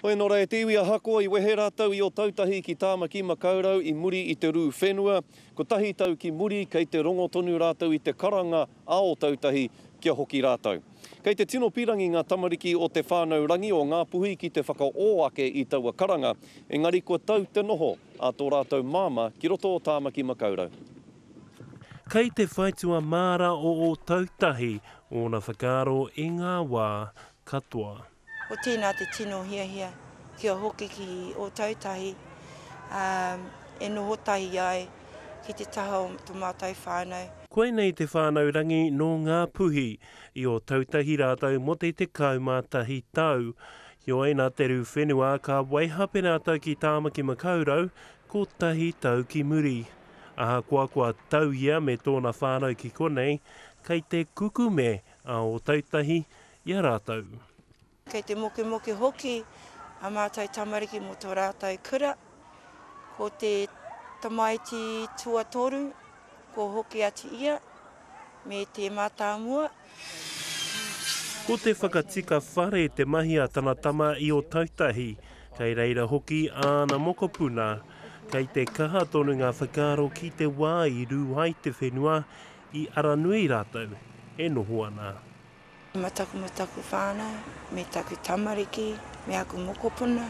Hoi nō rā e te iwi ahakoa i wehe rātou i Otautahi ki Tāmaki-makau-rau i muri i te rū whenua, kotahi tau ki muri kei te rongo tonu rātou i te karanga a Otautahi kia hoki rātou. Kei te tino pirangi ngā tamariki o Te Whānau Rangi o Ngā Puhi ki te whakaō ake i taua karanga, engari kua tau te noho a tō rātou māmā ki roto o Tāmaki-makau-rau. Kei te whaitua māra o Otautahi ōna whakaaro i ngā wā katoa. Ko tēnā te tino hiahia kia hoki ki Ōtautahi, ā, e noho tahi ai ki te taha o tō mātou whānau. Koinei te Whānau Rangi nō Ngāpuhi. I Ōtautahi rātou mō te 11 tau. Heoi, nā te rū whenua, ka waihape rātou ki Tāmaki Makaurau, kotahi tau ki muri. Ahakoa kua tau ia me tōna whānau ki konei, kei te kukume a Ōtautahi i a rātou. Kei te mokemoke hoki a mātou tamariki mō tō rātou kura. Ko te tamaiti tuatoru, kua hoki atu ia me te mātāmua. Ko te whakatika whare te mahi a tana tama i Otautahi, kei reira hoki āna mokopuna. Kei te kaha tonu ngā whakaaro ki te wā i rū ai te whenua, i Aranui rātou e noho ana. Ma taku ma taku whanau, me taku tamariki, me aku mokopuna.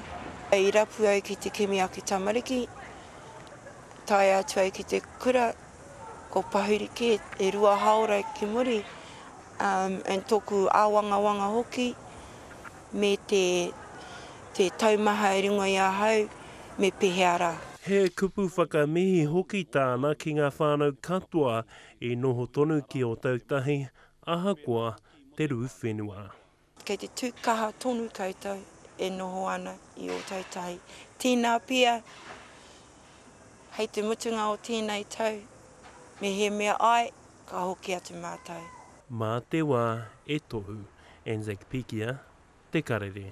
I rapu ai ki te kimi aku tamariki, tae atu ai ki te kura, ko Pahuri ke, e rua haora ki muri, um, and toku awangawanga hoki, me te, te taumaha i ringo i ahau, me pehea ra. He kupu whakamihi hoki tāna ki ngā whānau katoa i noho tonu ki Ōtautahi, ahakoa te rū whenua. Kei te tū kaha tonu koutou e noho ana i Ōtautahi. Tīnā pea, hei te mutunga o tēnei tau, mehemea ai, ka hoki atu mātou. Mā te wā e tohu, Anzac Pikia, Te Karere.